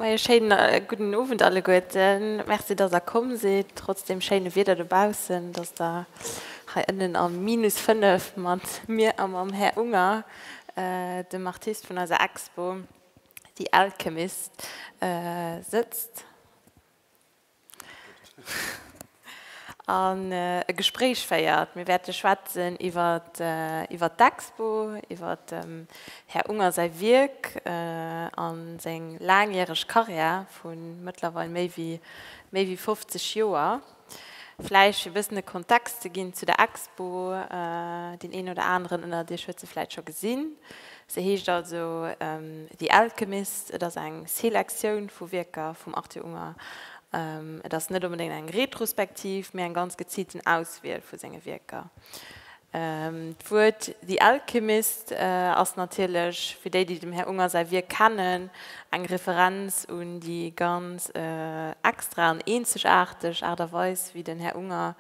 Majo schéin gudden Owend alleguerten. Merci dass der komm sidd trotz dem schéine Wieder dobaussen, dass der hei ënnen am minus 5 mat mir a mam Här Unger, dem Artist vun eiser Expo The Alchemist sëtzt. an e Gespréich féiert. Mir wäerte schwätzen iwwer d'Expo, iwwer dem Här Unger säi Wierk a seng laangjäreg Karriär vu mëttlerweil méi wéi 50 Joer. Vläicht fir e bëssen e Kontext ze ginn zu der Expo, deen een oder aneren ënnert Iech huet se vläicht scho gesinn, Se heescht also The Alchemist. Et ass eng Selektioun vu Wierker vum Arthur Unger. Et ass net onbedéngt eng Retrospektiv, mee eng ganz geziilten Auswiel vu senge Wierker. D'Wuert The Alchemist ass natierlech, fir déi, déi dem Här Unger säi Wierk kennen, eng Referenz un déi ganz extra an eenzegaarteg Aart a Weis, wéi den Här Unger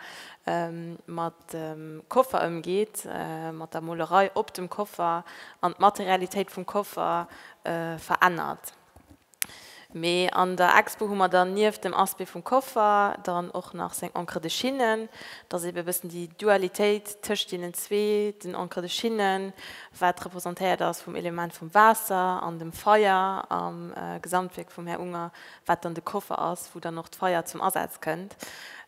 mat. dem Koffer ëmgeet, mat der Molerei op dem Koffer an d'Materialitéit vum Koffer verännert. Mee an der Expo hu mer dann nieft dem Aspect vum Koffer dann och nach seng Encre de Chine. Et ass eebe e bëssen déi Dualitéit tëscht deenen zwee, den Encre de Chine, wat representéiert ass vum Element vum Waasser an dem Feier am Gesamtwierk vum Här Unger, wat dann de Koffer ass, wou dann och d'Feier zum Asaz kënnt.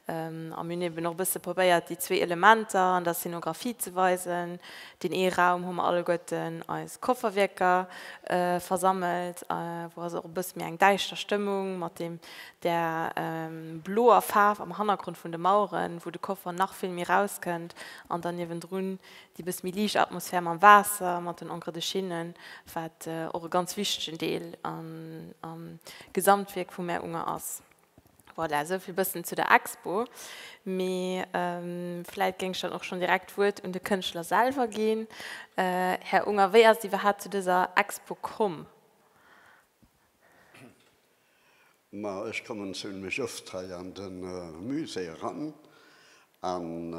A mir hunn eben och e bësse probéiert, déi zwee Elementer an der Szenografie ze weisen. Deen ee Raum hu mer alleguerten eis Kofferwierker versammelt, wou also och e bësse méi eng däischter Stëmmung mat deem, där bloer Faarf am Hannergrond vun de Maueren, wou de Koffer nach vill méi rauskënnt, an dann niewendrun Déi bëss méi liicht Atmosphär mam Waasser, mat den Encres de Chine, wat och e ganz wichtegen Deel am Gesamtwierk vum Mär Unger ass. Voilà, esou vill bëssen zu der Expo. Mee vläit géing ech dann och schonn direkt d'Wuert un de Kënschtler selwer ginn. Här Unger, wéi ass et iwwerhaapt zu dëser Expo komm? Ma ech kommen zimlech oft hei an de Musée eran, an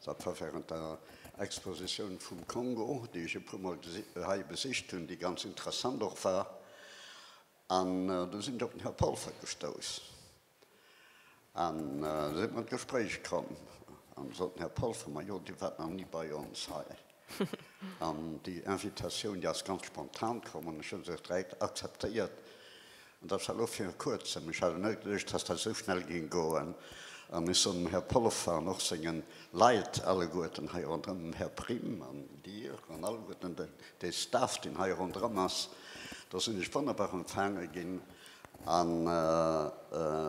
dat war während der Expositioun vum Kongo, déi ech e puermol hei besicht hunn, déi ganz interessant och war, an do sinn ech op den Här Polfer gestouss. An esou sinn mer an d'Gespréich komm an soten, Här Polfer, majo, Dir waart nach ni bei ons hei. An déi Invitatioun, déi ass ganz spontan komm an ech hunn se direkt akzeptéiert. An dat war elo vir Kuerzem. Ech hat net geduecht, dass dat esou schnell géing goen. An ech soen dem Här Polfer an och senge Leit alleguerten hei ronderëm, dem Här Prim an Dir an alleguerten dee Staff, deen hei ronderëm ass, dass sinn ech wonnerbar empfaange ginn. A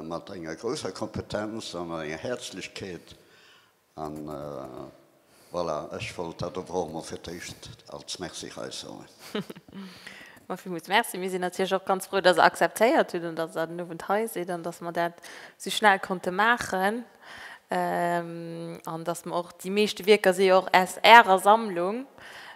mat enger grousser Kompetenz an enger Häerzlechkeet. A voilà, ech wollt dat awer och emol fir d'éischt als Merci raussoen. Mä villmools Merci. Mir sinn natierlech och ganz frou, dass Der akzeptéiert hutt an dass Der den Owend hei sidd an dass mer dat esou schnell konnte maachen. an dass mer och, déi meeschte Wierker si jo och aus Ärer Sammlung,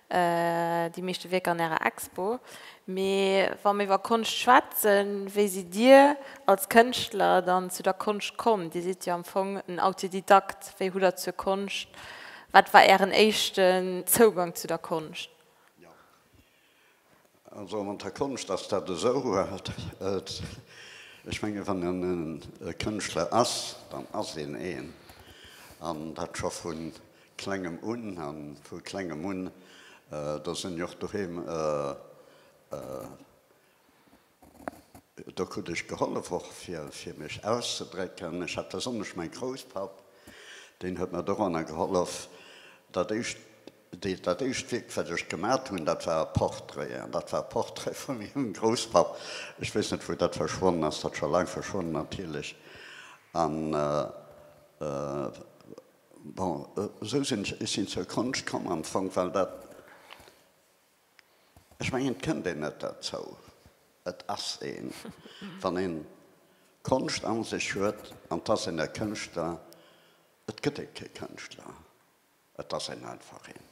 déi meeschte Wierker an Ärer Expo. Mee wa mer iwwer Konscht schwätzen, wéi sidd Dir als Kënschtler dann zu der Konscht komm? Dir sidd jo am Fong en Autodidakt. Wéi hutt Der zur Konscht, wat war Ären éischten Zougang zu der Konscht? Also mat der Konscht ass dat esou, ech menge wann een e Kënschtler ass, dann ass een een, an dat scho vu Klengem un. A vu Klengem un, do sinn ech och doheem. Do krut ech gehollef och fir fir mech auszedrécken. Ech hat besonnesch mäi Grousspapp, deen huet mer doranner gehollef. Dat éischt dee dat éischt Wierk wat ech gemat hunn, dat war e Portrait. An dat war e Portrait vu mengem Grousspapp. Ech weess net wou dat verschwonnen ass, dat scho laang verschwonnen natierlech. An bon esou sinn ech sinn zur Konscht komm am Fong well dat Ech mengen, et kënnt een net derzou. Et ass een, wann een Konscht a sech huet an et ass een e Kënschtler. Et gëtt ee kee Kënschtler, et ass een einfach een.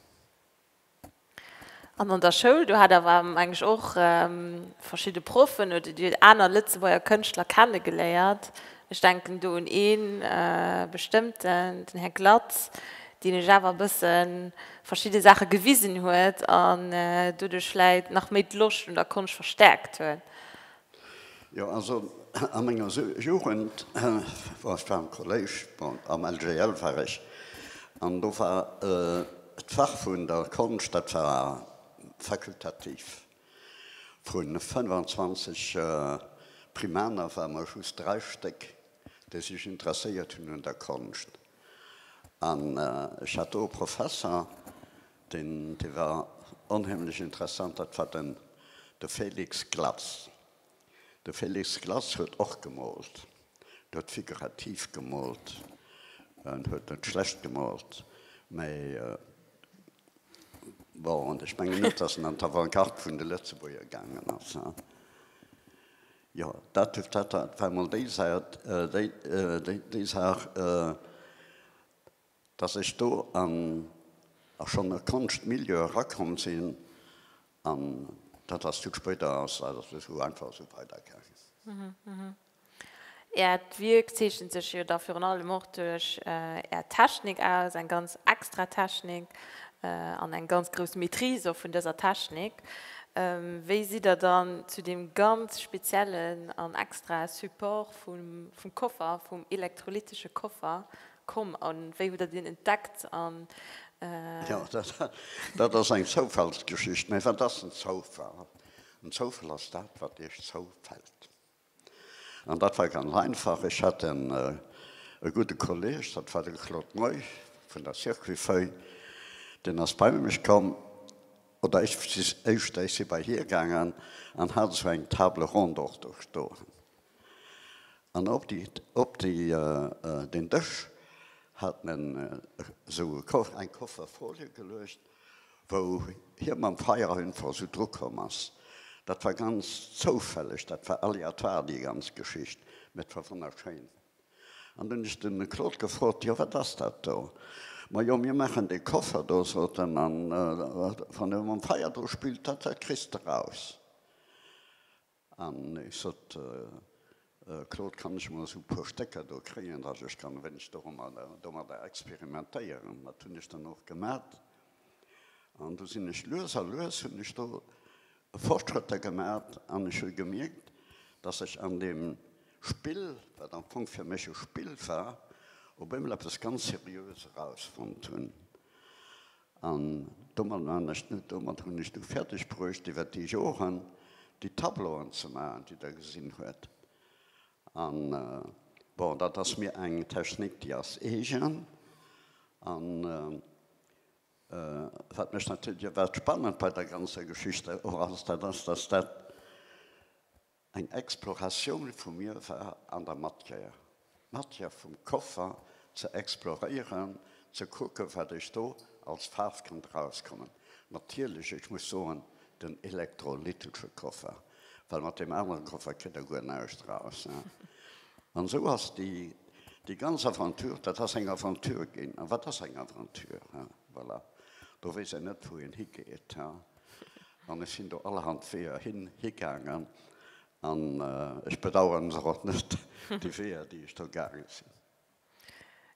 An an der Schoul, do hat awer, meng ech, och verschidde Proffen oder Dir aner Lëtzebuerger Kënschtler kennegeléiert. Ech denken do un ee bestëmmten, den Här Glatz, deen iech awer e bësse verschidde Saache gewisen huet an doduerch vläit nach méi d'Loscht un der Konscht verstärkt huet. Jo, also a menger Jugend war ech zwar am Kolléisch, bon, am LGL war ech, an do war d'Fach vun der Konscht, dat war fakultativ. Vu 25 Primaner ware mer just dräi Stéck, déi sech interesséiert hunn un der Konscht. An ech hat do e Professer, deen, dee war onheemlech interessant, dat war den, de Félix Glatz. De Félix Glass huet och gemoolt. En huet figurativ gemoolt. En huet net schlecht gemoolt, mä bon, an ech mengen net, datt en an d'Avantgarde vun de Lëtzebuerger gaangen ass. Jo, dat war emol déi Säit, déi Saach. Dass ech do an a schonn e Konschtmilieu erakomm sinn an dat ass vill spéider ass dat ass esou einfach esou weidergaangen. Äert Wierk zeechent sech jo da virun allem och duerch Är Technik aus, eng ganz extra Technik an eng ganz grouss Maîtrise och vun dëser Technik. Wéi sidd Der dann zu deem ganz speziellen an extrae Support vum Koffer, vum elektrolytesche Koffer Komm, a wéi hutt der dien entdeckt? Jo, dat ass eng Zoufallsgeschicht. Mä wat ass en Zoufall? En Zoufall ass dat, wat Iech zoufält. An dat war ganz einfach, Ech hat en e gudde Kolleg, dat war de Claude Moy vun der Circuit-Feuille, deen ass bei mech komm, oder ech, éischter, ech si bei hie gaangen, an hat esou eng Table ronde och do stoen. An op déi, op déi, deen Dësch hat en esou e Koffer, eng Koffer Folie geluecht, wou hie mam Feierainfall esou drukomm ass. Dat war ganz zoufälleg, dat war aléatoire, déi ganz Geschicht, mä et war wonnerschéin. An dunn hunn ech de Claude gefrot, Jo, wat ass dat do? Majo, mir maachen dee Koffer do, sot en, a wann e mam Feier dru spillt, dat kriss de raus. An ech sot, Claude, kann ech mol esou puer Stécker do kréien, datt ech kann e wéineg domadder experimentéieren. Dat hunn ech dann och gemat. An du sinn ech lues a lues hunn ech do Fortschrëtter gemat an ech hu gemierkt, datt ech an deem Spill, wat am Fong fir mech e Spill war, op eemol eppes ganz Seriöes erausfonnt hunn. An domat man ech net, domat hunn ech du fäerdeg bruecht iwwert déi Joren déi Tableauen ze maachen, déi Der gesinn huet. A bon, dat ass mir eng Technik, déi ass eegen. A wat mech natierlech, wat spannend bei der ganzer Geschicht och ass, dat ass, dass dat Eng Exploratioun vu mir war an der Matière, d'Matière vum Koffer ze exploréieren, ze kucke wat ech do als Faarf kënnt erauskommen. Natierlech, ech muss soen, den elektrolytesche Koffer, well mat deem aneren Koffer kritt Der guer näischt eraus. An esou ass déi ganz Aventure, dat ass eng Aventure ginn. A wat ass eng Aventure? Voilà, do weess een net wou een higeet. An ech sinn do allerhand Weeër hin, higaangen. An ech bedauern se och net, déi Weeër, déi ech do gaange sinn.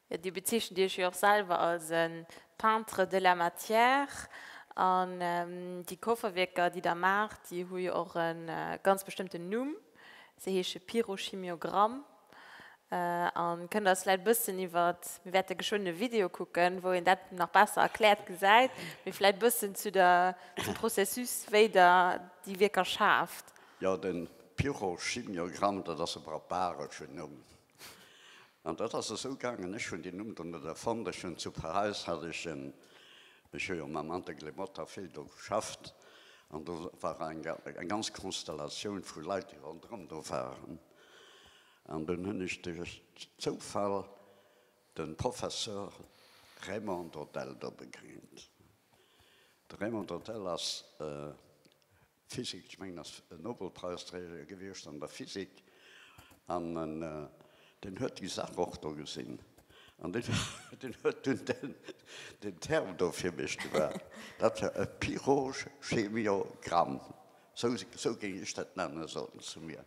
Jo, Dir bezeechent Iech jo och selwer als e Peintre de la matière. An déi Kofferwierker, déi Der maacht, déi hu jo och e ganz bestëmmten Numm. Se heesche Pyrochimiogramm a kënnt eis vläit e bëssen iwwert, mir wäerte geschwënn e Video kucken, wou een dat nach besser erkläert gesäit, mee vläit e bëssen zu der, zum Processus, wéi Der déi Wierker schaaft. Jo, de Pyrochimiogramm, dat ass e barbareschen Numm. An dat ass esou gaangen, ech hunn deen Numm do net erfonnt, ech hunn zu Paräis hat ech en, ech hu jo mam Antek Lemotta vill do geschafft, an do war eng ganz Konstellatioun vu Leit, déi ronderëm do waren, an dunn hunn ech duerch Zoufall de Professor Raymond Dodel do begéint. De Raymond Dodel ass. Physik, ech mengen ass e Nobelpreisträger gewiescht an der Physik an deen huet déi Saach och do gesinn an deen huet dunn den Term do fir mech gemaach. Dat war e Pyrochemiogramm, sou géing ech dat nennen, sot en zu mir.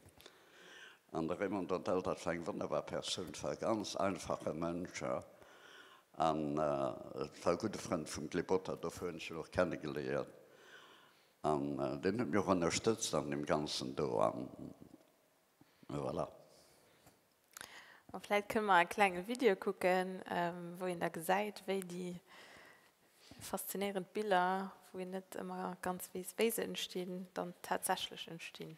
An de Raymond Dontel, dat war eng wonnerbar Persoun, war e ganz einfache Mënsch an war e gudde Frënd vum Glebotta, dofir hunn ech en och kenne geléiert. An deen huet mir och ënnerstëtzt an deem Ganzen do. An voilà. A vläit kënne mer e klenge Video kucken, wou een da gesäit, wéi déi faszinéierend Biller, wou een net ëmmer ganz weess, wéi se entstinn, dann tatsächlech entstinn.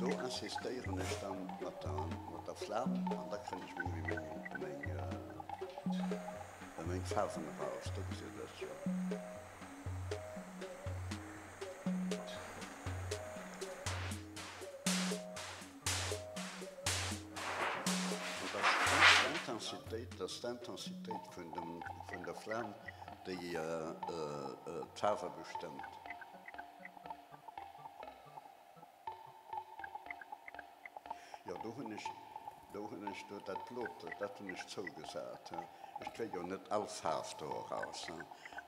Do insistéieren ech dann mat der mat der Flam an da kréien ech méi méi méi méi Faarwen eraus. Do gesi ech dat jo. Intensitéit ass d'Intensitéit vun dem vun der Flam déi d'Faarwe bestëmmt. Jo, do hunn ech, do hunn ech do dat blot, dat hunn ech zougesat. Ech kréie jo net all Faarf do eraus.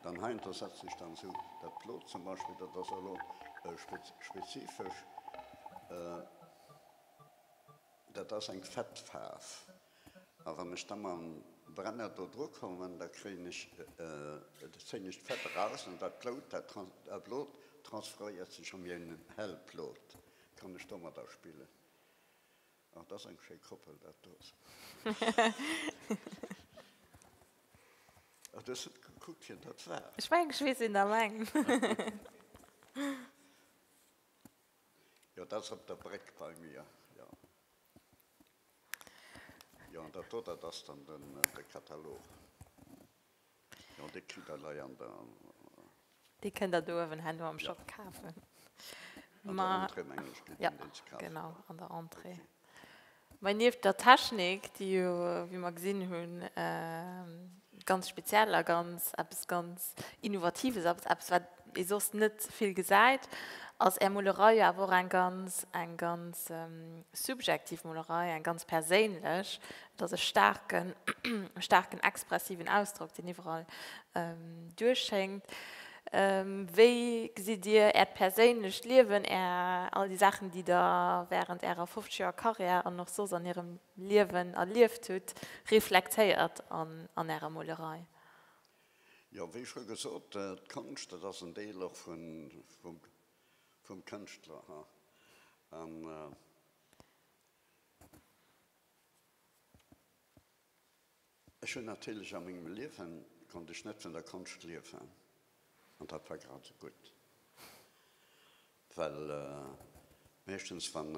Dann heiansdo setzt sech dann esou dat blot, zum Beispill, dat ass elo spezifesch, dat ass eng Fettfaarf. A wann ech da mam Brenner do dru kommen, da kréien ech, da zéien ech d'Fett eraus an dat Blout, dat Blut transferéiert sech a meng hell Plot, kann ech domadder spillen. Oh, dat ass eng schéi Koppel, dat do. Oh, du hues net gekuckt, wien dat war. Ech mengen, ech weess een alleng. Jo, dat ass op der Bréck bei mir, jo. Jo, dat do, dat ass dann den, de Katalog. Jo, dee kritt Der hei an der. Dee kënnt Der do uewen herno am Shop kafen. An der Entrée, mengen ech, kritt een deen ze kafen. Jo, genau, an der Entrée. Mä nieft der Technik, déi jo, wéi mer gesinn hunn, Ganz speziell a ganz eppes ganz Innovatives, eppes eppes wat ee soss net vill gesäit ass är Molerei, jo awer och eng ganz eng ganz subjektiv Molerei, eng ganz perséinlech. Et ass e staarken staarken expressiven Ausdrock deen iwwerall duerchschéngt. Wéi gesitt dir äert perséinlecht Liewen, är all déi Saachen déi der während ärer 50 Joer Karriär an och soss an hirem Liewen erlieft hutt, reflektéiert an Ärer Molerei? Jo, wéi scho gesot, d'Konscht, dat ass en Deel och vum Kënschtler. Ech hunn natierlech a mengem Liewen, konnt ech net vun der Konscht liewen, an dat war grad esou gutt, well meeschtens wann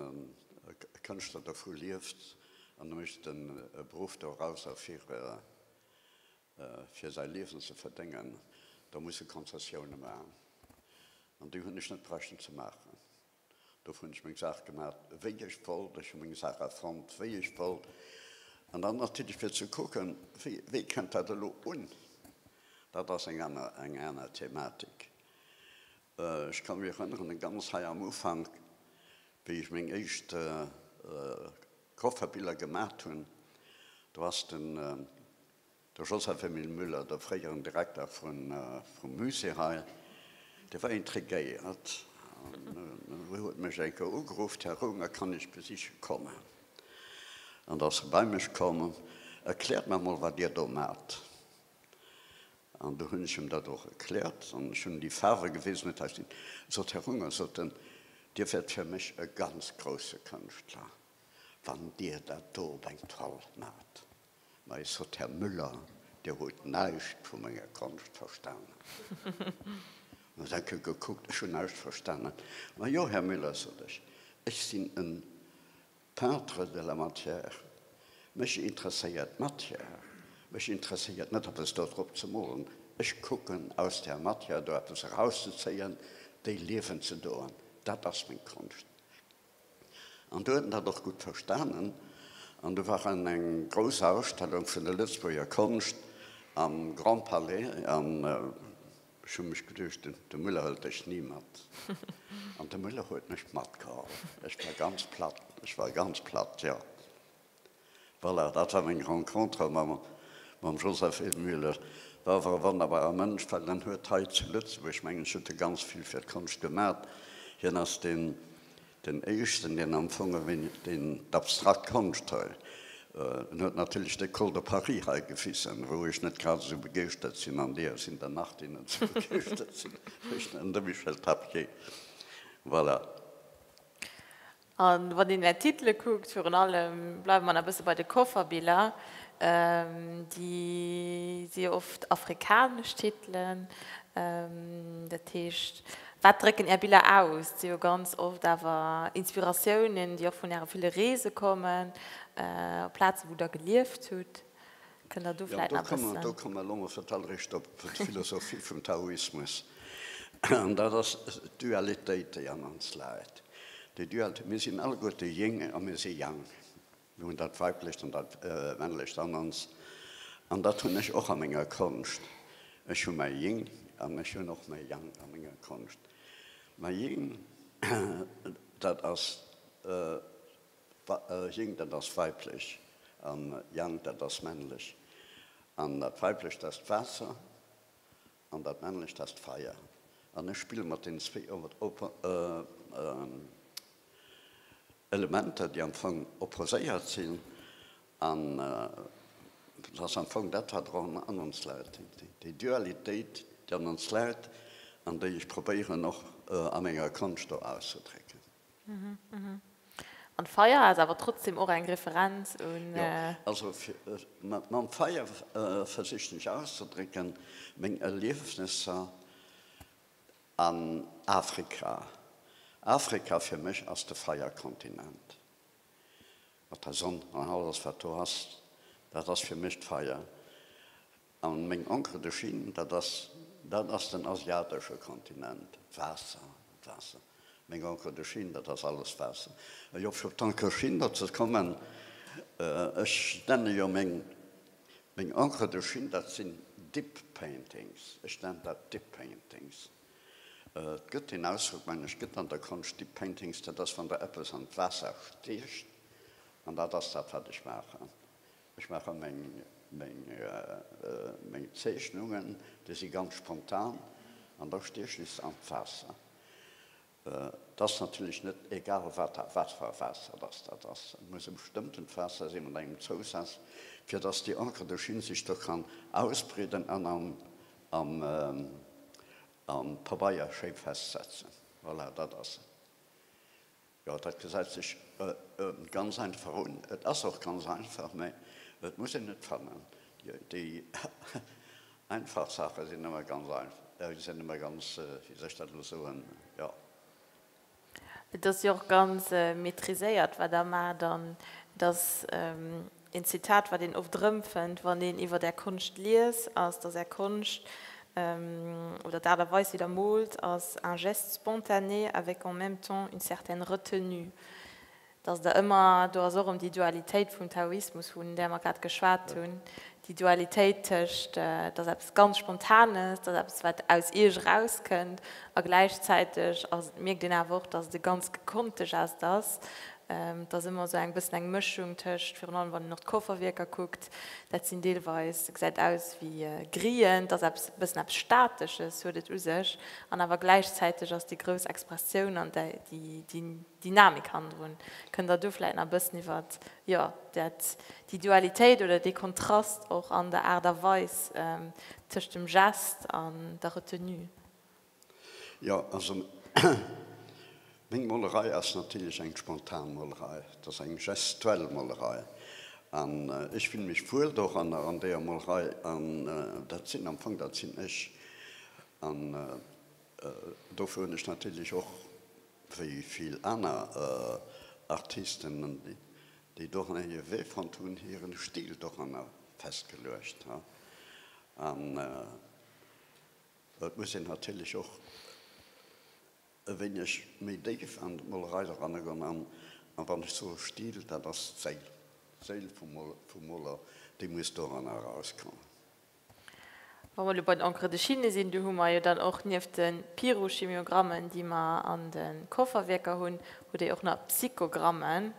e Kënschtler dovu lieft an e mécht e Beruff dorauser fir fir säi Liewen ze verdéngen, da muss e Konzessioune maachen, an déi hunn ech net bräuchten ze maachen. Dofir hunn ech meng Saach gemaach, wéi ech wollt. Ech hu meng Saach erfonnt, wéi ech wollt. An dann natierlech fir ze kucken, wéi kënnt dat elo un. Dat ass eng aner, eng aner Thematik. Ech ka mech erënneren, ganz hei am Ufank, wéi ech meng éischt Kofferbiller gemacht hunn, do ass de. De Joseph Emile Müller, de fréieren Direkter vum Musée hei, dee war intriguéiert an huet mech eng Kéier ugeruff, Här Roemer, kann ech besiche kommen? An da ass e bei mech komm, Erkläert mer emol, wat Dir do maacht. An du hunn ech em dat och erkläert an ech hunn em déi Faarwe gewisen. Et hat hien gesot, Här Roemer, sot en, Dir wäert fir mech e ganz grousse Kënschtler, wann Dir dat do op eng Toile maacht. Mais es sot Här Müller, Dir hutt näischt vu menger Konscht verstanen. An da seng ke gekuckt, Ech hunn näischt verstanen. Majo, Här Müller, sot ech, ech sinn en Peintre de la matière. Mech interesséiert d'Matière. Mech interesséiert net, eppes do drop ze molen. Ech kucken, aus där Matière do eppes erauszezéien, déi Liewen ze doen. Dat ass meng Konscht. An do huet en dat och gutt verstanen. An do war en eng grouss Ausstellung vun der Lëtzebuerger Konscht am Grand Palais. An ech hu mech geduecht, de Muller hëlt dech ni mat. An de Muller huet mech matgeholl. Ech war ganz platt, ech war ganz platt, jo. Voilà, dat war meng Rencontre mam Joseph E. Müller. Dat ass e wonnerbare Mënsch, well en huet hei zu Lëtzebuerg, mengen ech, huet e ganz vill fir d'Konscht gemat. Hien ass deen deen Éischten, deen am Fong ewéi deen d'abstrakt Konscht hei, en huet natierlech d'École de Paris hei gefissen, wou ech net grad esou begeeschtert sinn, an deeër sinn der nach, déi net esou begeeschtert sinn, wéi de Michel Tapié. Voilà. A wann een är Titele kuckt, virun allem, bleiwe mer nach e bësse bei de Coverbiller, di si jo oft afrikanesch Titelen. Dat heescht, wat drécken är Biller aus? Et si jo ganz oft awer Inspiratiounen, déi och vun äre ville Reese kommen, op Plaze wou der gelieft hutt. Kënnt Der do vläit nach e bëssen. Jo, do kommen elo mol fir d'alleréischt op d'Philosophie vum Taoismus. An dat ass d'Dualitéit, déi an ons läit. Déi Dualitéit, mir sinn alleguerte Ying a mir si Yang. Mir hunn dat Weiblecht an dat Männlecht an ons. An dat hunn ech och a menger Konscht. Ech hu mäi Ying an ech hunn och mäi Yang a menger Konscht. Mäi Ying, dat ass Ying, dat ass weiblech, a Yang, dat ass männlech. An dat weiblecht ass d'Waasser an dat männlecht ass d'Feier. An ech spille mat deenen zwéi Elementer, déi am Fong opposéiert sinn. An et ass am Fong dat, wat och an ons läit, déi Dualitéit, déi an ons läit an déi ech probéieren och a menger Konscht do auszedrécken. An d'Feier ass awer trotzdem och eng Referenz un. Jo, also mam Feier versichen ech auszedrécken meng Erliefnesser an Afrika. Afrika fir mech ass de Feierkontinent. Mat der Sonn an alles wat do ass, dat ass fir mech d'Feier. An meng Encre de Chine, dat ass, dat ass den asiatesche Kontinent. Waasser, Waasser. Meng Encre de Chine, dat ass alles Waasser. Ech op fir op d'Encre Chine do ze kommen, ech nenne jo meng, meng Encre de Chine, dat sinn Dip Paintings. Ech nennen dat Dip Paintings. Et gëtt deen Ausdrock, mengen ech, gëtt an der Konscht, Dip Paintings, dat ass, wann Der eppes an d'Waasser stiecht, an dat ass dat, wat ech maachen. Ech maache meng Zeechnungen, déi si ganz spontan an da sti ech just an d'Waasser. Et ass natierlech net egal wat, wat fir e Waasser datt dat ass, et muss e bestëmmtent Waasser sinn mat engem Zousaz, fir datt déi Encre dohin sech do kann ausbreeden an am Pabeier schéi festsetzen. Voilà, dat ass et. Jo, dat gesäit sech ganz einfach un. Et ass och ganz einfach, mä et muss een et fannen. Déi einfach Saache sinn ëmmer ganz einfach, sinn ëmmer ganz, wéi soll ech dat elo soen, jo. Et ass jo och ganz maîtriséiert, wat Der maacht, an dass Een Zitat, wat een oft erëmfënnt, wann een iwwert Är Konscht liest, ass, dass Är Konscht, oder d'Aart a Weis, wéi Der moolt, ass un geste spontané avec en même temps une certaine retenue. Dass Der ëmmer, do ass och erëm déi Dualitéit vum Taoismus, vun där mer grad geschwat hunn, déi Dualitéit tëscht, dass eppes ganz Spontanes, dass eppes, wat aus Iech erauskënnt, a gläichzäiteg mierkt een awer och, dass et e ganz gekonnte Gest ass, Et ass ëmmer esou eng bëssen eng Mëschung tëscht, virun allem wann een och d'Kofferwierker kuckt, dat sinn deelweis, dat gesäit aus wéi Grien, et ass eppes e bëssen eppes Statesches huet et u sech an awer gläichzäiteg ass déi grouss Expressioun an déi Dynamik hannendrun. Kënnt Der do vläicht nach e bëssen iwwer, jo, dat, déi Dualitéit oder dee Kontrast och an der Aart a Weis tëscht dem Geste an der Retenue? Jo, also meng Molerei ass natierlech eng spontan Molerei. Et ass eng gestuell Molerei. An ech fille mech wuel do ran, an deeër Molerei. An dat sinn am Fong, dat sinn ech. An dofir hunn ech natierlech och wéi vill aner Artisten, déi doranner hire Wee fonnt hunn, hire Stil doranner festgeluecht. An. Et muss een natierlech och e wéineg méi déif an d'Molerei eranegoen. An wann ech soe Stil, dat ass d'Séil, d'Séil vum Moler, déi muss doranner erauskommen. Wa mer elo bei den Encres de Chine sinn, do hu mer jo dann och nieft de Pyrochimiogrammen, déi mer an de Kofferwierker hunn, hu déi och nach Psychogrammen.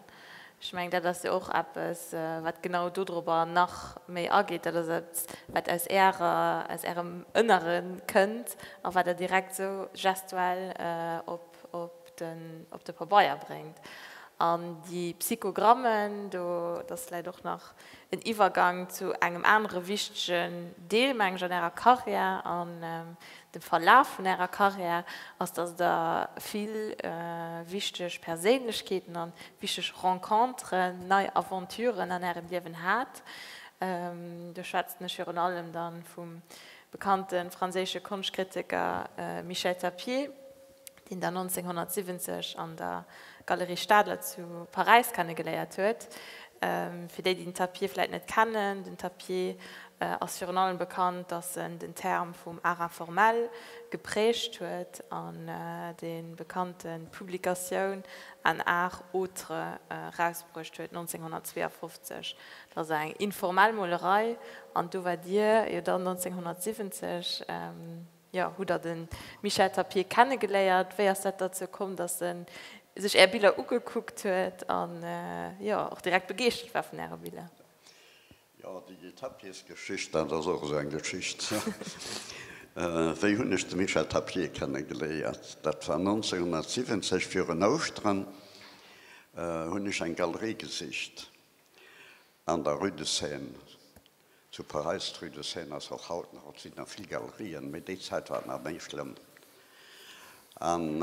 Ech mengen, dat ass jo och eppes, wat genau dodrober nach méi ageet. Dat ass eppes, wat aus Ärer, aus Ärem Ënnere kënnt a wat Der direkt esou gestuell op de, op de Pabeier bréngt. An déi Psychogrammen, do, dat läit och nach en Iwwergang zu engem anere wichtegen Deel, meng ech, an Ärer Karriär, an dem Verlaf vun Ärer Karriär, ass, dass Der vill wichteg Perséinlechkeeten a wichteg Rencontren, nei Aventuren an Ärem Liewen hat. Do schwätzen ech virun allem da vum bekannte franséische Konschtkritiker Michel Tapier. deen der 1970 an der Galerie Stadler zu Paräis kennegeléiert huet. Fir déi, déi den Tapier vläit net kennen, den Tapier ass virun allem bekannt, datt en den Term vum Art informel geprägt huet an déi bekannte Publikatioun Un art autre erausbruecht huet 1952. Dat ass eng informell Molerei an do waart Dir jo dann 1970. Jo, hutt der de Michel Tapier kennegeléiert? Wéi ass dat derzou komm, datt e sech Är Biller ugekuckt huet an, jo, och direkt begeeschtert war vun Äre Biller? Jo, déi Tapiersgeschicht, dat ass och esou eng Geschicht. Wéi hunn ech de Michel Tapier kennegeléiert? Dat war 1970, virun Ouschteren hunn ech eng Galerie gesicht an der Rue de Seine. Zu Paräis, d'Rue de Seine ass och haut nach, et sinn nach vill Galerien, mee déi Zäit war et nach méi schlëmm. An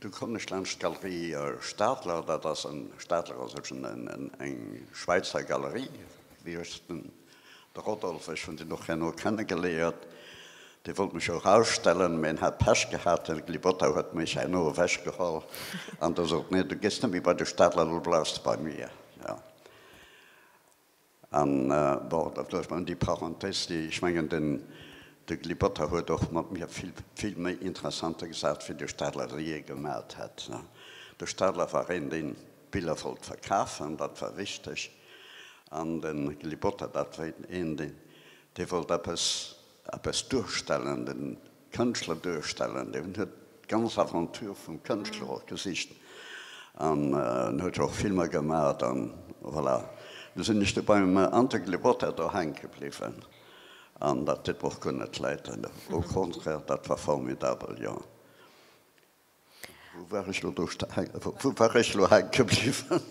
du koum ech laanscht d'Galerie Stadler, dat ass en, Stadler ass ech en, eng Schwäizer Galerie, wéi ech den, de Rodolphe, ech hunn deen och herno kennegeléiert, dee wollt mech och ausstellen, mee en hat Pech gehat, den Glibota huet mech herno ewechgeholl an da sot, Nee, du gees net méi bei de Stadler, lo bleifs de bei mir. An, bon, da vläch nach déi Parenthèse, déi, ech mengen, den, de Gli Botta huet och mat mir vill, vill méi interessante Gesach fir de Stadler jee gemaacht hätt. De Stadler war een, deen d'Biller wollt verkafen, dat war wichteg. An de Gli Botta, dat war een, deen, dee wollt eppes, eppes duerstellen, de Kënschtler duerstellen, deen huet d'ganz Aventure vum Kënschtler och gesicht an en huet jo och Filmer gemat an voilà. Lo sinn ech do beim Antoine Glebotta do hänke bliwwen an dat deet mer och guer net Leid, au contraire, dat war formidabel, jo. Wou war ech lo do, wou war ech lo hänke bliwwen?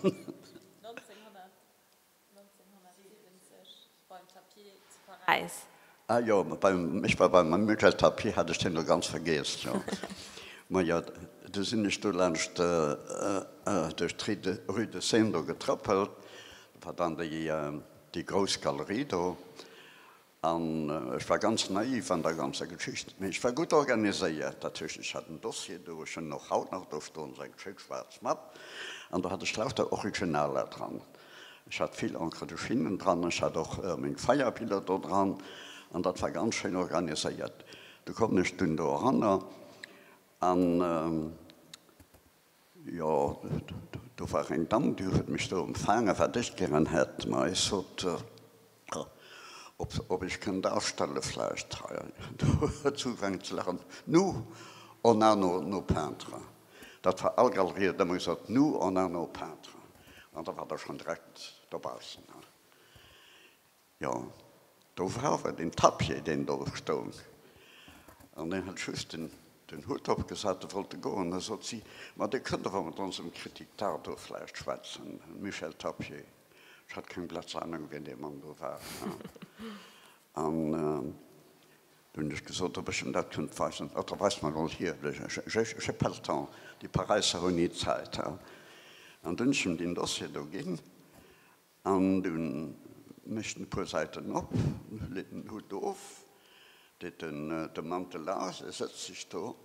Ah jo, ech war beim Michel Tapier, hat ech deen elo ganz vergiess, jo. Ma jo, du sinn ech do laanscht duerch d'Rue de, Rue de Seine do getrëppelt, da war dann déi, déi grouss Galerie do. An ech war ganz naiv an der ganzer Geschicht. Mee ech war gutt organiséiert. Dat heescht, ech hat en Dossier do, ech hunn och haut nach do stoen, seng schéi schwaarz Mapp, an do hat ech lauter Originaler dran. Ech hat vill Encre de Chine dran, ech hat och meng Feierbiller do dran, an dat war ganz schéin organiséiert. Du kommen ech dunn do eranner an. Jo, do war eng Damm, déi huet mech do empfaangen, wat ech gären hätt, ma ech sot, ob ech kënnt astelle vläicht hei. Do huet se ugefaangen ze laachen, Nous, on a nos peintres. Dat war all Galerie huet ëmmer gesot, Nous, on a nos peintres. An da war der schonn direkt dobaussen. Jo, do war awer den Tapie, deen do stoung, an deen hat just den Hutt opgesat, e wollte goen, da sot si, Ma Dir kënnt awer mat onsem Kritik d'Art do vläicht schwätzen, Michel Tapie. Ech hat keng blatz Anung, wien dee Mann do war. An du hunn ech gesot, ob ech em dat kënnt weisen. Oder weis mer emol hir, j'ai pas le temps, déi Paräisser hunn ni Zäit. An du hunn ech em deen Dossier do ginn. An dunn mécht en e puer Säiten op, leet en den Hutt of, deet de Mantel aus a sëtzt sech do.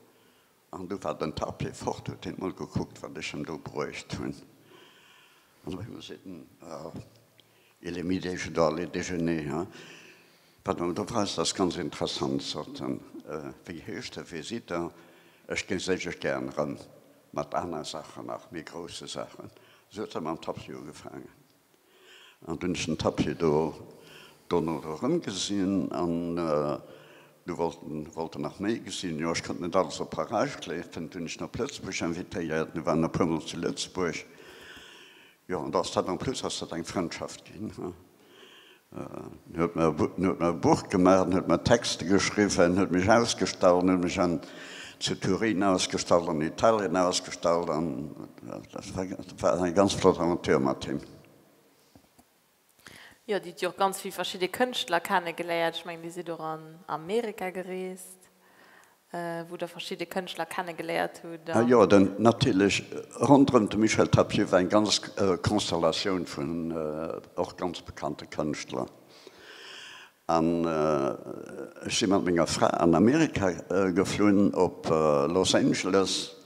An du war den Tapir fort, huet hien emol gekuckt, wat ech em do bruecht hunn. An op eemol seet en, Ah, il est midi, je dois aller déjeuner. Pardon, do weist dass ganz interessant Sorten. Wéi heescht de Visiteur? Ech ginn sécher gären rëm mat aner Saachen, nach méi grousse Saachen. Esou huet se mam Tapis ugefaangen. An dunn hunn ech den Tapis do dono do rëm gesinn an du wollt wollt en nach méi gesinn. Jo, ech konnt net alles op Parage kléifen. Dunn hunn ech en op Lëtzebuerg invitéiert. Mir waren e puer mol zu Lëtzebuerg. Jo, an da ass dat en plus ass dat eng Frëndschaft ginn. En huet mer e Buch gemaach, en huet mer Texte geschriwwen, en huet mech ausgestallt, en huet mech zu Turin ausgestallt, an Italien ausgestallt. An dat war eng ganz flott Aventure mat him. Jo, Dir hutt jo och ganz vill verschidde Kënschtler kennegeléiert. Ech mengen, Dir sidd och an Amerika gereest. wou der verschidde Kënschtler kennegeléiert hutt. A jo, den, natierlech ronderëm de Michel Tapieu war eng ganz Konstellatioun vun och ganz bekannte Kënschtler. An ech si mat menger Fra an Amerika geflunn, op Los Angeles,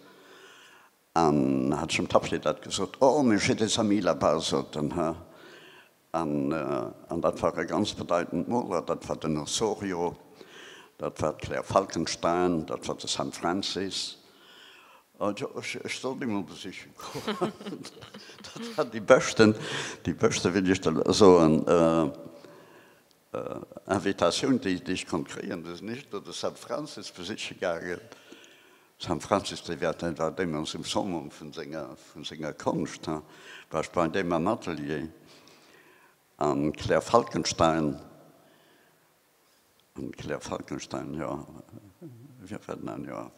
An da hat zum Tapsee dat gesot, Oh, mais je te salue là-bas, sot en. Hä? An, an dat war e ganz bedeitend Moler, dat war den Osorio, dat war d'Claire Falkenstein, dat war de Sam Francis. Also, ech, ech sollt déi mol besiche goen. Dat war déi beschten, déi beschte, wéi dir ech da soen. Invitatioun déi ech konnt kréien, déi sinn éischter de Sam Francis besiche gaangen. Sam Francis, dee war deen war deemools um Summum vun senger vun senger Konscht, he war ech bei deem am Atelier. An d'Claire Falkenstein, an d'Claire Falkenstein, jo, wien war den an, jo,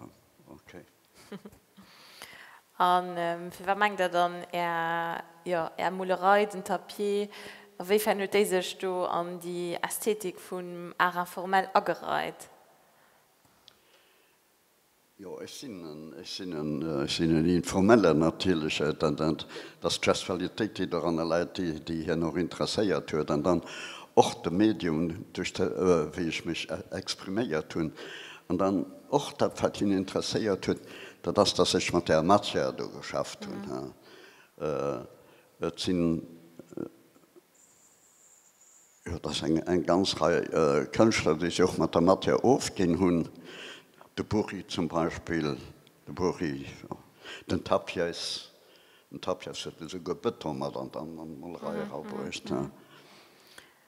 okay. A fir wat mengt der dann, Är, jo, Är Molerei, den Tapie, a wéi fern huet déi sech do an déi Ästhetik vum Art informel agereit? Jo, ech sinn en, ech sinn en, ech sinn en Informellen natierlech. Dat ass d'Gestualitéit, déi doranner läit, déi hien och interesséiert huet. An dann och de Medium, duerch de wéi ech mech expriméiert hunn. An dann. Och dat wat hien interesséiert huet, dat ass dass ech mat där Matière do geschafft hunn. Et sinn, jo et ass eng eng ganz Rei Kënschtler déi sech och mat der Matière ofginn hunn, de Burri zum Beispill, de Burri, den Tapies, den Tapies huet esouguer Bëton mat an d'Molerei era bruecht.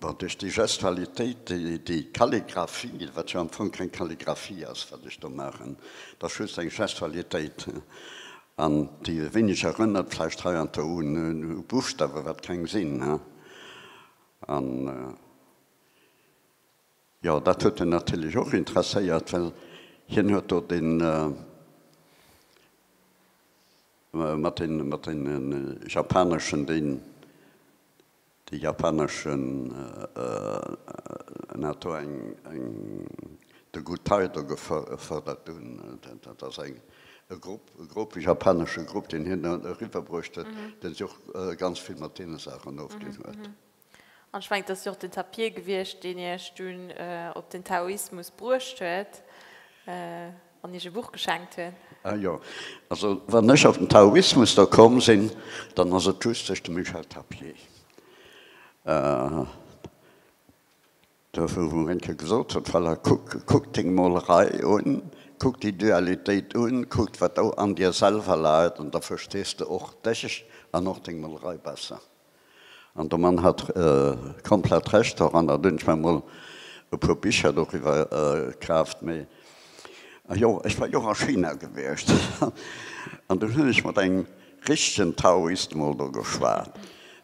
Bon, duerch déi Gestualitéit, déi Kalligraphie, wat jo am Fong keng Kalligraphie ass, wat ech do maachen, dat ass just eng Gestualitéit, an déi e wéineg erënnert vläicht hei an do un Buchstawen, wat keng sinn, hein. An, jo, dat huet en natierlech och interesséiert, well hien huet do dee mat deene japaneschen, deen De japaneschen Nato eng eng de Guttaido gefërdert hunn. Dat ass eng e Grupp e Grupp e japanesche Grupp, deen hien eriwwer bruecht huet, dee sech och ganz vill mat deene Saachen ofginn huet. An ech mengen, et ass jo och den Tapir gewiescht, deen Iech dunn op den Taoismus bruecht huet. An iech e Buch geschenkt hunn. Ah jo, also wann ech op den Taoismus da komm sinn, dann ass et just duerch de Michel Tapier. Do wou en eng Kéier gesot huet, voilà, kuck deng Molerei un, kuck déi Dualitéit un, kuck wat do an dir selwer läit, an da verstees de och dech an och deng Molerei besser. An de Mann hat komplett Recht doran. An dunn zwar mol e puer Bicher doriwwer kaaft. Mee jo, ech war jo och a China gewiescht. An dunn hunn ech mat engem richtegen Taoist mol do geschwat.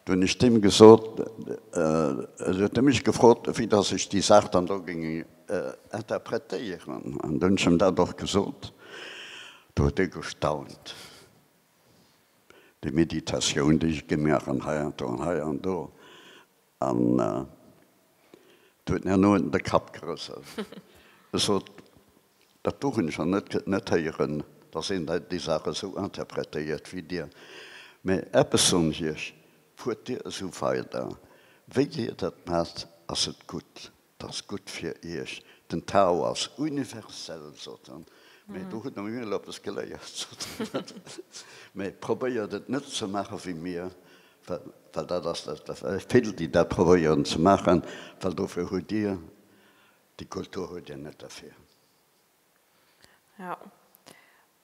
Du hunn ech deem gesot, esou huet e mech gefrot, wéi dass ech déi Saach dann do géing interpretéieren. An dunn hunn ech em dat och gesot. Do huet e gestaunt. Déi Meditatioun, déi ech gemaach hunn hei an do an hei an do, an et huet mär noenn de Kapp gerësselt. Ech sot, Dat do hunn ech nach net, kënnt net héieren, dass een déi Saach esou interpretéiert wéi Dir. Mä eppes soen ech Iech, Fuert Dir esou weider, wéi Dir dat maacht, ass et gutt. 't ass gutt fir iech, den Tao ass universell, sot en, mee do hutt der mir elo eppes geléiert, sot en, mee probéiert et net ze maache wéi mir, well dat ass vill, déi dat probéieren ze maachen, well dofir hutt dir déi Kultur, hutt dir net derfir. Jo,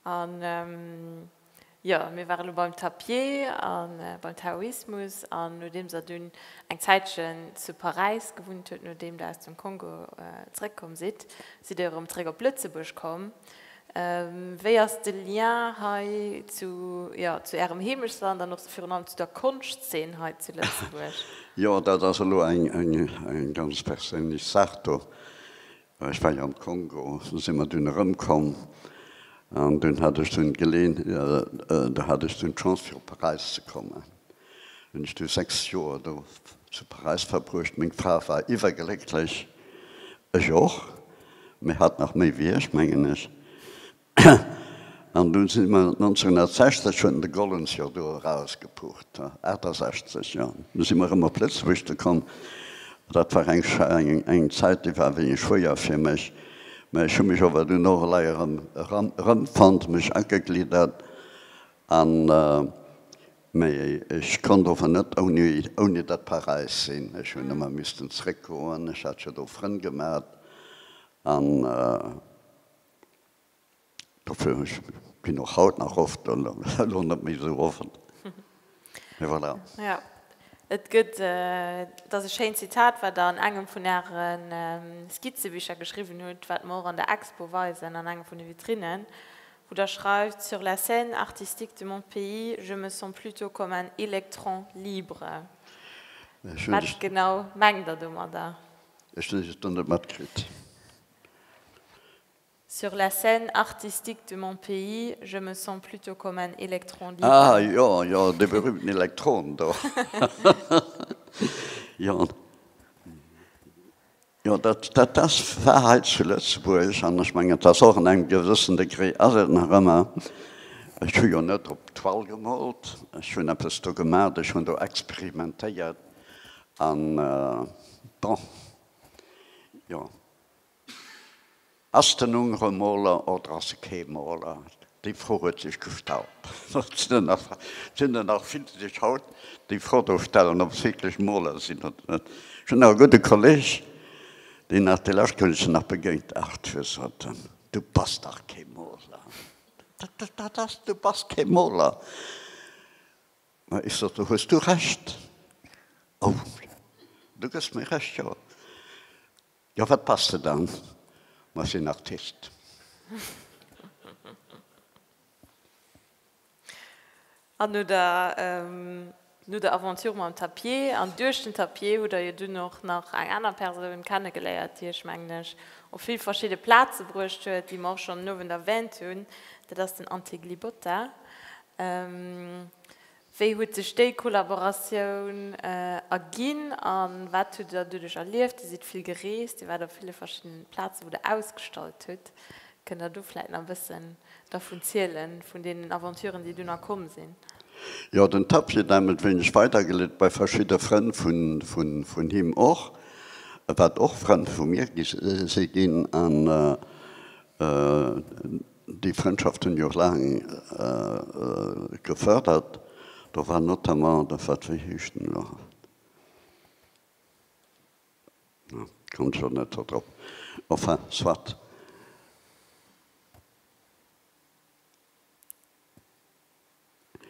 A jo, mir ware lo beim Tapier a beim Taoismus, an nodeems Der dunn eng Zäitchen zu Paräis gewunnt hutt, nodeem Der aus dem Kongo zréckkomm sidd, sidd Der erëm zréck op Lëtzebuerg komm. Wéi ass de Lien hei zu, jo, zu Ärem Heemechtsland an och virun allem zu der Konschtzeen hei zu Lëtzebuerg? Jo, dat ass elo eng ganz perséinlech Saach do. Ech war jo am Kongo, do si mer dunn erëmkomm an dunn hat ech dunn d'Geleen, do hat ech dunn d'Chance fir op Paräis ze kommen. Hunn ech du sechs Joer do zu Paräis verbruecht. Meng Fra war iwwerglécklech, ech och, mee hatt nach méi wéi ech, mengen ech. An dunn si mer 1960 hunn de Gollens jo do erausgepucht, 68 jo, du si mer erëm op Lëtzebuerg ze komm. Dat war eng eng Zäit, déi war wéi e Schwéier fir mech. Mä ech hu mech awer dunn och elei erëm eran erëmfonnt, mech agegliddert an. Mä ech konnt ower net ouni ouni dat Paräis sinn. Ech hunn ëmmer missten zréckgoen, ech hat jo do Frënn gemat an. Dofir ech ginn och haut nach oft an elo net méi esou offen. Mee voilà. Jo, et gëtt, et ass e schéint Zitat, wat Der an engem vun Äre Skizzebicher geschriwwen hutt, wat mer och an der Expo weisen, an enger vun de Vitrinnen, wou Der schreift, Sur la scène artistique de mon pays, je me sens plutôt comme un électron libre. Wat genau mengt Der domadder? Ech hunn et elo net matkritt. Sur la scène artistique de mon pays, je me sens plutôt comme un électron libre. Ah jo, jo, dee berühmten Elektron do. Jo, jo, dat, dat ass, war hei zu Lëtzebuerg an ech mengen, et ass och an engem gewëssen Degré ass et nach ëmmer. Ech hu jo net op d'Wall gemoolt, ech hunn eppes do gemaach, ech hunn do experimentéiert an, bon. Jo. Ass den Ungere Moler oder ass e kee Moler? Déi Fro huet sech gestallt. Et sinn der nach, et sinn der nach vill, déi sech haut déi Fro do stellen, ob se wierklech Moler sinn oder net. Ech hunn nach e gudde Kolleeg, deen nach déi lescht, wou ech en nach begéint ass, gesot, Du bass dach kee Moler. Dat ass, du bass kee Moler. Ma ech sot, do hues du Recht. Oh, du gëss mir Recht, jo. Jo, wat bass de dann? Ma ech sinn Artist. A no der, no der Aventure mam Tapier an duerch den Tapier hutt der jo dunn och nach eng aner Persoun kenne geléiert, déi iech, mengen ech, op vill verschidde Plaze bruecht huet, déi mer och schonn den Owend erwähnt hunn, dat ass den Antti Glibota. Wéi huet sech déi Kollaboratioun erginn a wat hutt Der doduerch erlieft? Dir sidd vill gereest, Dir waart op ville verschiddenen Plazen, wou Der ausgestallt hutt. Kënnt Der do vläit nach e bëssen dervun zielen, vun deenen Aventuren, déi dunn nach komm sinn? Jo, den Tapp wier dämelt wéineg weidergeleet, bei verschidde Frënn vun him och, wat och Frënn vu mir si ginn. Déi Frëndschaft hunn jo laang gefërdert. Do war notamment de, wat, wéi heescht en elo haut, ah, komm ech elo net do drop, enfin, soit.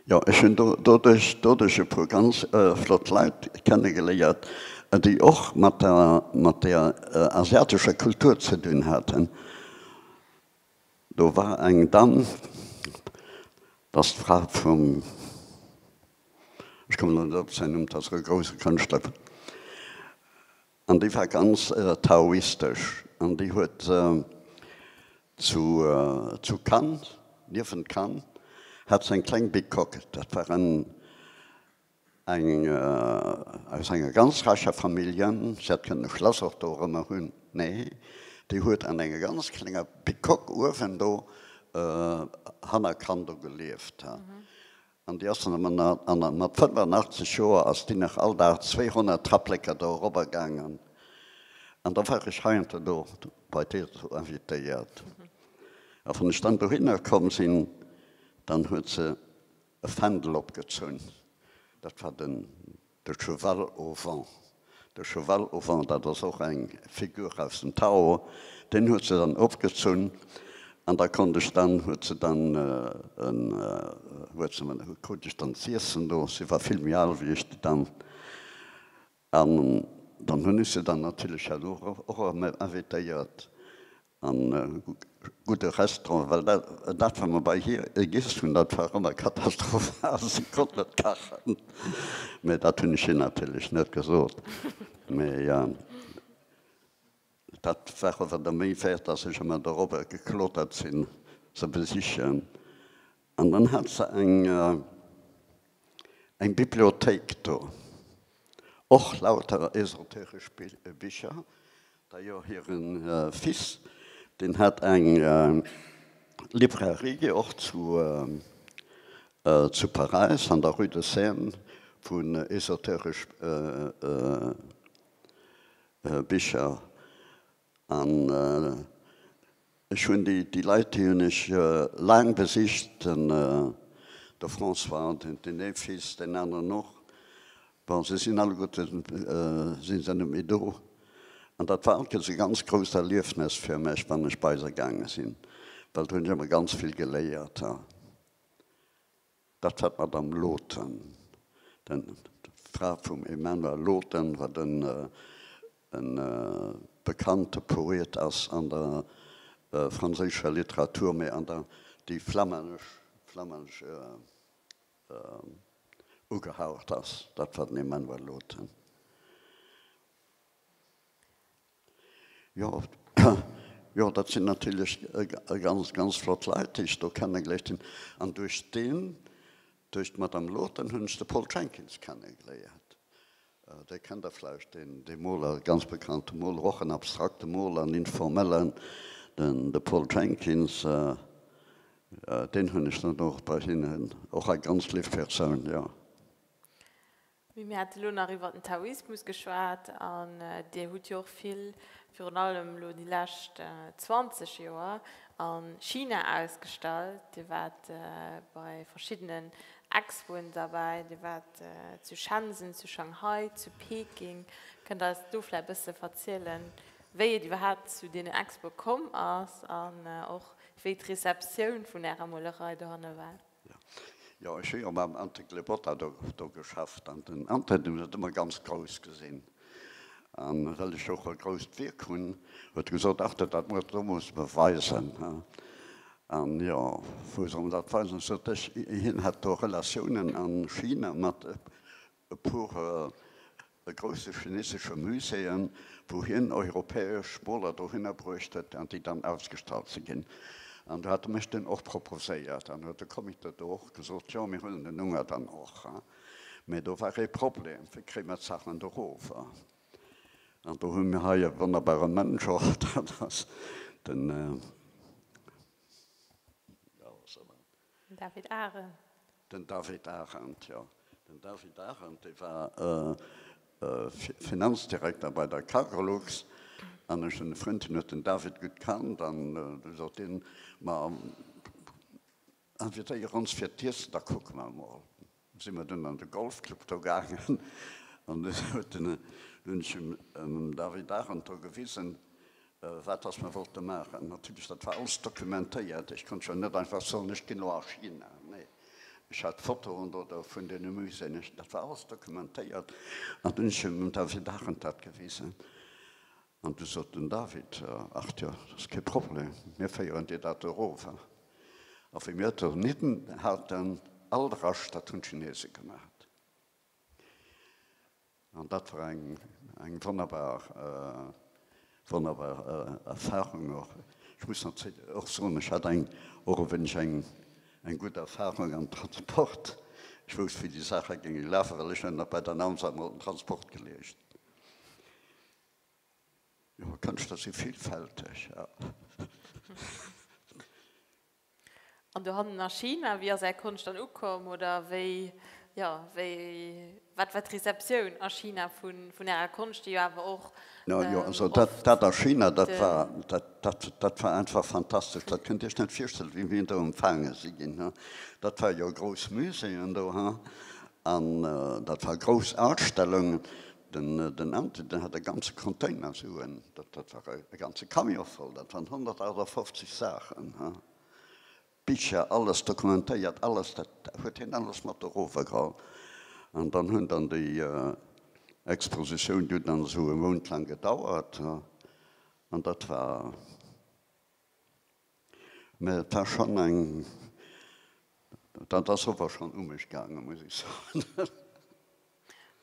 Jo, ech hunn do doduerch, doduerch e puer ganz flott Leit kennegeléiert, déi och mat der, mat der asiatescher Kultur ze dinn haten. Do war eng Damm, dat ass d'Fra vum, ech kommen elo net op säin Numm, dat ass e grouse Kënschtler, an déi war ganz taoistesch an déi huet zu Cannes, niewent Cannes hat se eng kleng Bicoque, dat war en, Eng aus enger ganz räicher Famillje, si hätt kënnen e Schlass och do erëmmer hunn, nee, déi huet an enger ganz klenger Bicoque uewen do hanner Cannes do gelieft. An déi ass dann ëmmer nach, an mat 85 Joer ass déi nach all Dag 200 Trapplécker do erobber gaangen. An da war ech heiansdo do bei deer do invitéiert. A wann ech dann dohinner komm sinn, dann huet se E Fändel opgezunn, dat war den de cheval au vent. De cheval au vent, dat ass och eng Figur aus dem Tarot, deen huet se dann opgezunn an da konnt ech dann, huet se dann en, huet se krut ech dann z'iessen do, si war vill méi al wéi ech, déi Dame. An dann hunn ech se dann natierlech herno och erëm invitéiert a gudde Restaurant, well dat, wat mer bei hir giess hunn, dat war ëmmer katastrophal, se konnt net kachen. Mä dat hunn ech hir natierlech net gesot. Mä jo. Dat war awer da méi wäert, dass ech ëmmer dorobber geklotert sinn, se besichen. An dann hat se eng, eng Bibliothéik do, och lauter esoteresch Bicher. D'ailleurs, hire Fils, deen hat eng Librairie och zu, zu Paräis an der Rue de Seine, wou en esoteresch, Bicher an ech hunn déi déi Leit déi hunn ech laang besicht, den de François, den den ee Fils, deen aneren och. Bon se sinn alleguerte si se net méi do an dat war altges e ganz grousst Erliefnes fir mech wann ech bei se gaange sinn, well do hunn ech ëmmer ganz vill geléiert. Dat war d'Madame Loothen, d'Fra vum Emmanuel Loothen, wat e bekannte Poet ass an der franséischer Literatur, mee an der déi flammännesch ugehaucht ass. Dat war den Emmanuel Loothen. Jo, jo, dat sinn natierlech ganz, ganz flott Leit, déi ech do kennegléiert hunn. An duerch deen, duerch d'Madame Lothen, hunn ech de Paul Jenkins kennegléiert. Dee kennt Der vläicht, deen, dee Moler, ganz bekannte Moler, och en abstrakte Moler, en informellen, den, de Paul Jenkins. Deen hunn ech dann och bei hinnen, och eng ganz liff Persoun, jo. Mee mir hate lo nach iwwert den Taoismus geschwat, an Dir hutt jo och vill, virun allem lo déi lescht 20 Joer, a China ausgestallt. Dir waart bei verschiddenen Expoen derbäi, Dir waart zu Shenzhen, zu Shanghai, zu Peking. Kënnt Der eis do vläicht e bësse verzielen, wéi et iwwerhaapt zu deenen Expoe komm ass an och wéi d'Receptioun vun Ärer Molerei dohanne war? Jo, ech hu jo mam Ante Glebotta do geschafft an den Ante huet dat ëmmer ganz grouss gesinn. An well ech och e grousst Wierk hunn, huet e gesot, ach dat dat muer, do muss mer weisen. An jo, wou soll en dat weisen? Sot ech, hien hätt do Relatiounen a China mat e puer grousse chinesesche Muséeën, wou hien europäesch Moler dohinner bruecht huet an déi dann ausgestallt si ginn. An do hate mech dunn och proposéiert an huet de Comité do och gesot, jo mir huelen den Unger dann och. Mä do war ee Problem, wéi kréie mer d'Saachen do rower? An do hu mir hei e wonnerbare Mënsch och, dat ass den, David Arendt. Den David Arendt, jo. Den David Arendt, dee war Finanzdirekter bei der Cargolux. An ech hunn e Frënd, deen huet den David gutt kannt. An du sot hien, Ma invitéier ons fir d'Iessen, da kucke mer emol. Sinn mer dunn an de Golfclub do gaangen an dunn huet den, dunn ech him, dem David Arendt do gewisen, wat datt mer wollte maachen. Natierlech, dat war alles dokumentéiert. Ech konnt jo net einfach soen, ech ginn elo a China. Nee, ech hat d'Fotoen do, do vun deene Muséeën, ech, dat war alles dokumentéiert. An dunn ech him, dem David Arendt, dat gewisen. An du sot den David, Ach jo, dat ass kee Problem, mir féieren dir dat erower. A wéi mir donieden haten, all de Rascht, dat hunn d'Chinese gemat. An dat war eng, eng wonnerbar, wonnerbar Erfahrung och. Ech muss nach och soen, ech hat eng, och e wéineg eng, eng gutt Erfahrung am Transport. Ech wousst, wéi déi Saache géinge lafe, well ech hunn nach bei der Namsa emol den Transport geleescht. Jo, d'Kënschtler si villfälteg. An dohannen a China, wéi ass Är Konscht dann ukomm? Oder wéi, jo, wéi, wat war d'Rezeptioun a China vun Ärer Konscht, déi jo awer och oft. No jo, also dat a China, dat war, dat war einfach fantastesch. Dat kënnt Dir Iech net virstellen, wéi mir do empfaange si ginn, ha. Dat war jo grouss Muséeën do, ha, an dat war grouss Ausstellungen. Den Ante, den hat e ganze Container Suen, dat dat war e ganze Camion voll, dat waren 158 Saachen, Bicher, alles dokumentéiert, alles, dat huet hien alles mat erovergeholl. An dann hunn dann déi Expositioun, déi huet dann esou e Mount laang gedauert, an dat war. Mä et war schonn eng, dat ass ower schonn u mech gaangen, muss ech soen.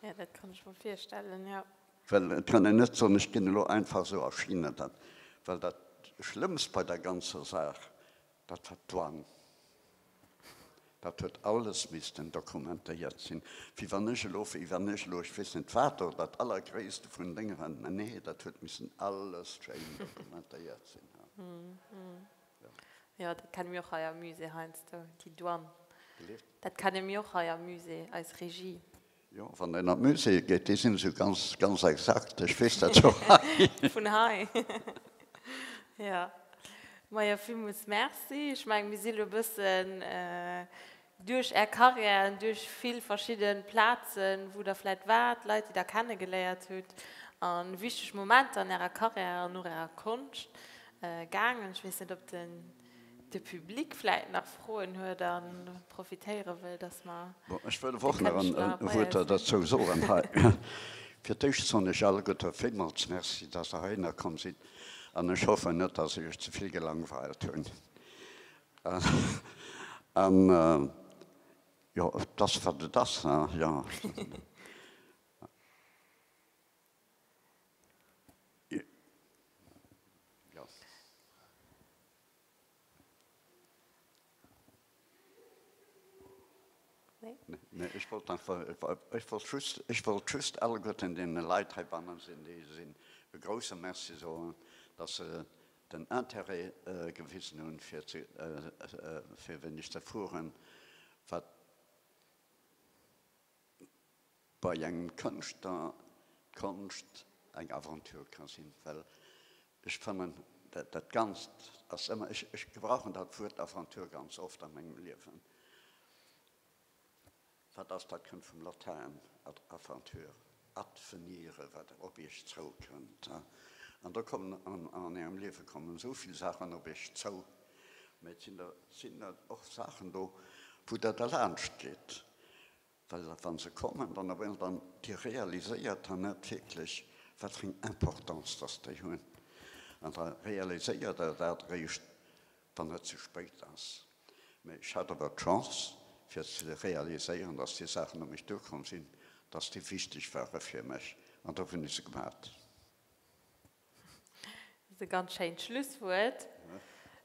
Jo, dat kann ech mer virstellen, jo. Well et kann een net soen, ech ginn elo einfach esou a China dat. Well dat Schlëmmst bei der ganzer Saach, dat war d'Douane. Dat huet alles missten dokumentéiert sinn, wéi wann ech elo wéi wann ech elo ech weess net wat do dat allergréisste vun Dénger an mä nee, dat huet missen alles schéin dokumentéiert sinn hei. Jo, dat kenne mir och hei am Musée heiansdo, déi Douane. Bitte? Dat kenne mir och hei am Musée, eis Régie. Jo, wann een an d'Muséeë geet, déi sinn esou ganz, ganz exakt. Ech weess dat jo hei. Vun hei. Jo. Majo, villmools Merci. Ech mengen, mir si lo e bëssen duerch Är Karriär an duerch vill verschidde Plazen, wou Der vläicht waart, Leit, déi Der kennegeléiert hutt a wichteg Momenter an Ärer Karriär an och Ärer Konscht gaangen. Ech weess net, ob de. de Public vläit nach Froen huet a profitéiere wëll, dass mer de Kënschtler bei eis hunn. Ech wëll och nach e Wuert derzou soen hei. Fir d'éischt soen ech alleguerte villmools Merci, dass Der heihinner komm sinn, an ech hoffen net, dass ech Iech ze vill gelangweilt hunn. An jo, et ass wat et ass, jo. Ech wollt just alleguerten deene Leit heibannen sinn, déi si e grouse Merci soen, datt se den Interêt gewisen hunn, fir weéneg ze fueren. Bei engem Kënschtler d'Konscht eng Aventure ka sinn, well ech fannen, dat Ganzt ass ëmmer, ech gebrauchen dat Wuert Aventure ganz oft a mengem Liewen, wat ass, dat kënnt vum Latäin, ad aventur, advenire, wat op iech zou kënnt. An do kommen an ärem Liewe kommen esou vill Saachen op iech zou, mä et sinn der och Saachen do, wou der derlaanscht gitt, Well dat, wa se kommen, dann op eemol dann, Dir realiséiert dann net wierklech, wat fir eng Importance dass déi hunn. An da realiséiert Der dat eréischt, wann et ze spéit ass. Mee ech hat awer d'Chance, fir ze realiséieren, dass déi Saachen op mech duerkomm sinn, dass déi wichteg ware fir mech, an da hunn ech se gemat. Dat ass e ganz schéint Schlusswuert.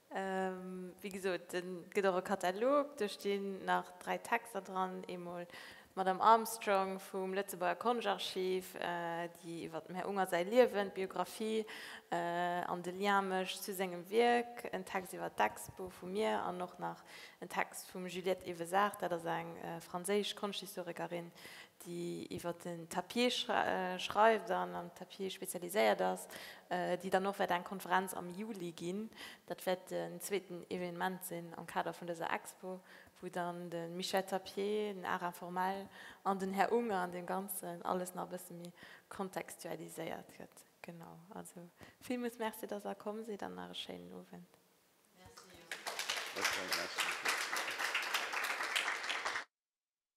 Wéi gesot, et gëtt och e Katalog, do stinn nach dräi Texter dran, eemol d'Madame Armstrong vum Lëtzebuerger Konschtarchiv, déi iwwer dem Här Unger säi Liewen, d'Biographie an de Lien mécht zu sengem Wierk, en Text iwwer d'Expo vu mir an och nach en Text vum Juliette Evezart, dat ass eng franséisch Konschthistorikerin, déi iwwer den Tapier schreift an am Tapier spezialiséiert ass, déi dann och wäert eng Konferenz am Juli ginn. Dat wäert den zweeten Evenement sinn am Kader vun dëser Expo, wou dann de Michel Tapier, den Art informel an den Här Unger an deem Ganzen alles nach e bësse méi kontextualiséiert gëtt. Genau. Also villmools Merci, dass Der komm sidd an nach e schéinen Owend. Merci.